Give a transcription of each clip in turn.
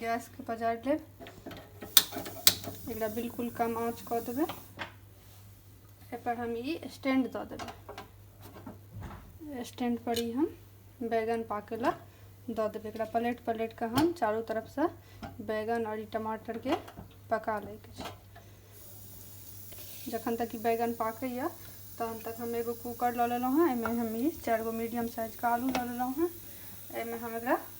गैसके पजारि लेब एकरा बिल्कुल कम आँच कऽ देबै एहिपर हम ई स्टैंड दऽ देबै स्टैंडपर ई हम बैगन पाके लए दऽ देबै एकरा पलटि पलटि कऽ हम चारू तरफसँ बैगन आओर ई टमाटरके पका लैके छै जखन तक ई बैगन पाकैए तहन तक हम एगो कूकर लऽ लेलहुँ हेँ एहिमे हम ई चारि गो मीडियम साइजके आलू लऽ लेलहुँ हेँ एहिमे हम एकरा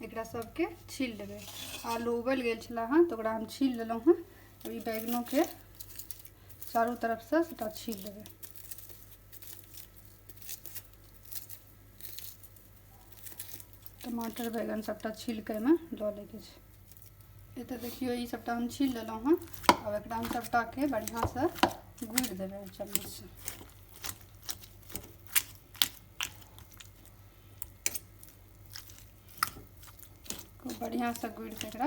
एकरा सबके छील लेबै आलू उबलि गेल छलै हँ तऽ ओकरा हम छील लेलहुँ हँ अब ई बैगनोके चारू तरफसँ सबटा छील लेबै टमाटर बैगन सबटा छीलके एहिमे दऽ लैके छै एतऽ देखियौ ई सबटा हम छील लेलहुँ हँ आब एकरा हम सबटाके बढ़िआँसँ गुड़ि देबै चम्मचसँ खूब बढ़िआँसँ गुड़िके एकरा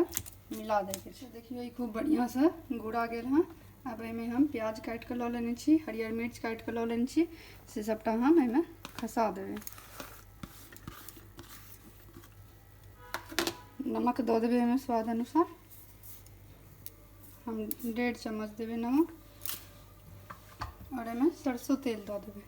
मिला दैके छै देखियौ ई खूब बढ़िआँसँ गुड़ा गेल हँ आब एहिमे हम प्याज काटि कऽ लऽ लेने छी हरियर मिर्च काटि कऽ लऽ लेने छी से सभटा हम एहिमे खसा देबै नमक दऽ देबै एहिमे स्वाद अनुसार हम डेढ़ चम्मच देबै नमक और एहिमे सरसों तेल दऽ देबै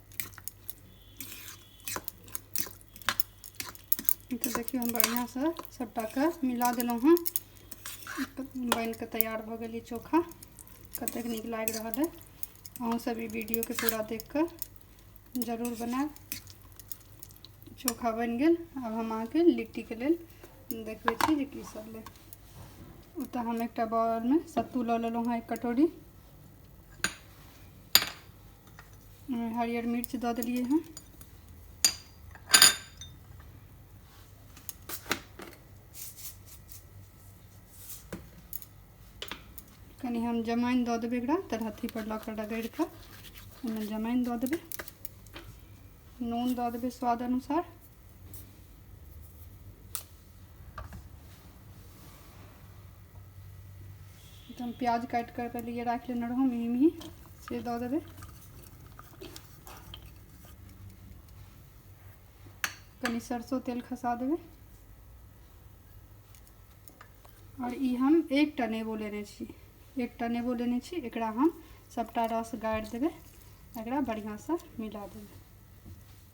तऽ देखियौ हम बढ़िआँसँ सभटाके मिला देलहुँ हँ बनि कऽ तैयार भऽ गेल ई चोखा कतेक नीक लागि रहल अइ अहूँसभ ई वीडियोके पूरा देख कऽ जरूर बनायब चोखा बनि गेल आब हम अहाँके लिट्टीके लेल देखबै छी जे की सब लेब ओ तऽ हम एकटा बॉलमे सत्तू लऽ लेलहुँ हँ एक कटोरी हरियर मिर्च दऽ देलियै हँ कनि हम जमाइन दऽ देबै एकरा तरहथीपर लऽ कऽ रगड़ि कऽ ओहिमे जमाइन दऽ देबै नून दऽ देबै स्वाद अनुसार हम प्याज काटि कऽ पहिले राखि लेने रहौं मिही मिही से दऽ देबै कनि सरसो तेल खसा देबै आओर ई हम एकटा नेबो लेने छी एकटा नेबो लेने छी एकरा हम सभटा रस गाड़ि देबै एकरा बढ़िआँसँ मिला देबै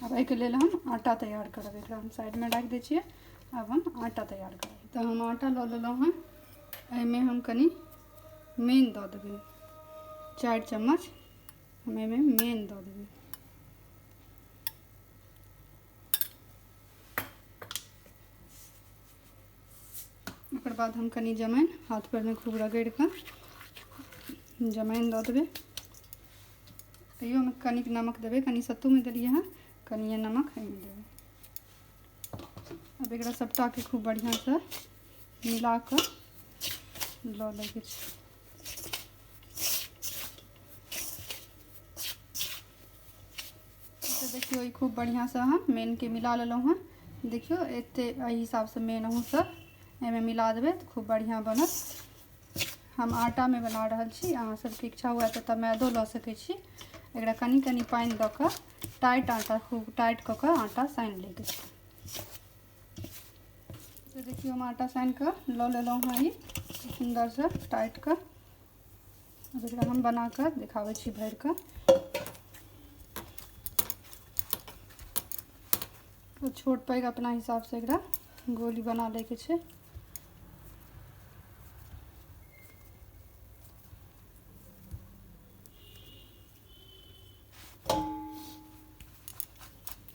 अब एहिके लेल हम आटा तैयार करब एकरा हम साइडमे राखि दै छियै आब हम आटा तैयार करब तऽ हम आटा लऽ लेलहुँ हँ एहिमे हम कनि मेन दऽ देबै चारि चम्मच हम एहिमे मेन दऽ देबै ओकर बाद हम कनि जमाइन हाथ परमे खूब रगड़ि कऽ जमाइन दऽ देबै तैयोमे कनिक नमक देबै कनि सत्तूमे देलियै हँ कनिए नमक एहिमे देबै आब एकरा सभटाके खूब बढ़िआँसँ मिला कऽ लऽ लैके छै तऽ देखियौ ई खूब बढ़िआँसँ हम मेनके मिला लेलहुँ हँ देखियौ एते एहि हिसाबसँ मेन अहूँसभ एहिमे मिला देबै तऽ खूब बढ़िआँ बनत हम आटामे बना रहल छी अहाँ सभके इच्छा हुए तऽ तऽ मैदो लऽ सकै छी एकरा कनि कनि पानि दऽ कऽ टाइट आटा खूब टाइट कऽ कऽ आटा सानि लैके छै तऽ देखियौ हम आटा सानि कऽ लऽ लेलहुँ हँ ई सुन्दरसँ टाइट कऽ अब एकरा हम बना कऽ देखाबै छी भरि कऽ तो छोट पैघ अपना हिसाबसँ एकरा गोली बना लैके छै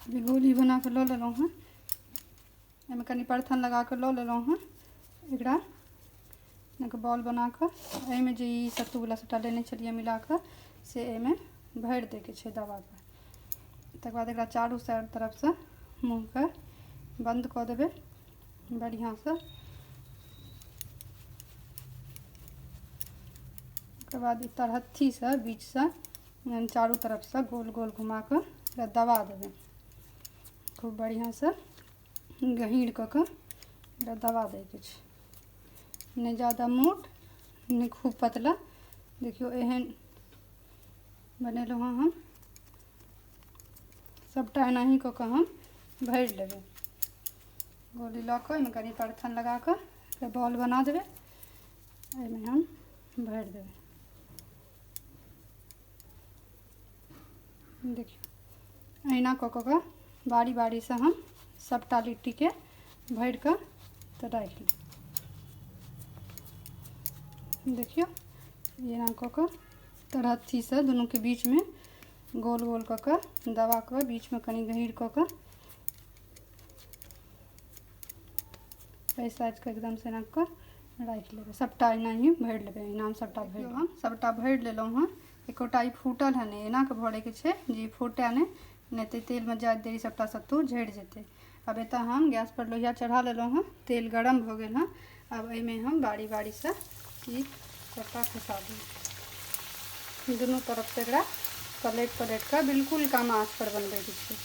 अभी गोली बना कऽ लऽ लेलहुँ हँ एहिमे कनि परथन लगा कऽ लऽ लेलहुँ हँ एकरा एनाके बॉल बना कऽ एहिमे जे ई सत्तूवला सभटा लेने छलियै मिला कऽ से एहिमे भरि दैके छै दबाके तकर बाद एकरा चारू साइड तरफसँ मुँहके बन्द कऽ देबै बढ़िआँसँ ओकर बाद ई तरहत्थीसँ बीचसँ चारू तरफसँ गोल गोल घुमा कऽ एकरा दबा देबै खूब बढ़िआँसँ गहीर कऽ कऽ एकरा दबा दैके छै नहि जादा मोट नहि खूब पतला देखियौ एहन बनेलहुँ हँ हम सभटा एनाही कऽ कऽ हम भरि लेबै गोली लऽ कऽ ओहिमे कनि परथन लगा कऽ एकरा बॉल बना देबै एहिमे हम भरि देबै देखियौ अहिना कऽ कऽ कऽ बारी बारीसँ हम सभटा लिट्टीके भरि कऽ तऽ राखि ली देखियौ एना कऽ कऽ तर हत्थीसँ दुनूके बीचमे गोल गोल कऽ कऽ दबा कऽ बीचमे कनि गहीर कऽ कऽ एहि साइजके एकदमसँ एना कऽ राखि लेबै सभटा एनाही भरि लेबै एहिना हम सभटा भरि हम सभटा भरि लेलहुँ हँ एकोटा ई फूटल हँ नहि एनाके भरैके छै जे फूटै नहि नहि तऽ तेलमे जाए देरी सभटा सत्तू झड़ि जेतै अब एतऽ हम गैसपर लोहिया चढ़ा लेलहुँ हँ तेल गरम भऽ गेल हँ आब एहिमे हम बारी बारीसँ ई सभटा खसा देब दुनू तरफसँ एकरा पलटि पलटि कऽ बिल्कुल कम आँचपर बनबैके छै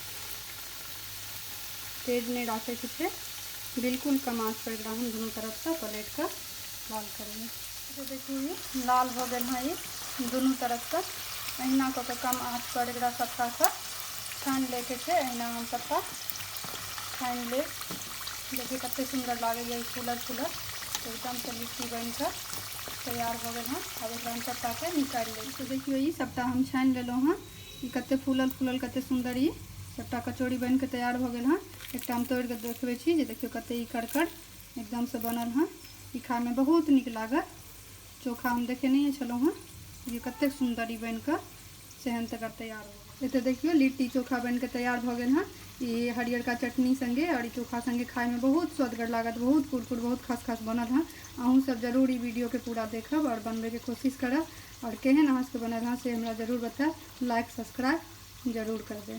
तेज नहि राखैके छै बिल्कुल कम आँचपर एकरा हम दुनू तरफसँ पलटि कऽ बंद करिए तो देखिए ये लाल हो गए हैं ये दोनों तरफ से अहिना कऽ के कम आँच पर एक सत्ता से छान लेके छे अहिना हम सत्ता छान ले देखिए कत सुंदर लगे ये फूलल फूलल एकदम से लिट्टी बन कर तैयार हो गए हैं अब एक हम सत्ता के निकाल ले तो देखियो ये सत्ता हम छान लेलो हैं ये कत फूलल फूलल कत सुंदर ये सत्ता कचौड़ी बन के तैयार हो गए हैं एक हम तोड़ के देखबे देखियो कत करकड़ एकदम से बनल हन ई खाय में बहुत निक लागल चोखा हम देखे नहीं छलहुँ हन देखियौ कतेक सुंदर ई बन कऽ सेहन तकर तैयार हो गेल एतऽ देखियौ लिट्टी चोखा बन कऽ तैयार भऽ गेल हन ई हरियरका चटनी संगे और ई चोखा संगे खाय में बहुत स्वदगर लागत बहुत कुरकुर बहुत खस खस बनल हन अहूँ सब जरूर ई वीडियो के पूरा देखब और बनबे के कोशिश करब और केहन अहाँ सबके बनल हन से हमरा जरूर बतायब लाइक सब्सक्राइब जरूर करबे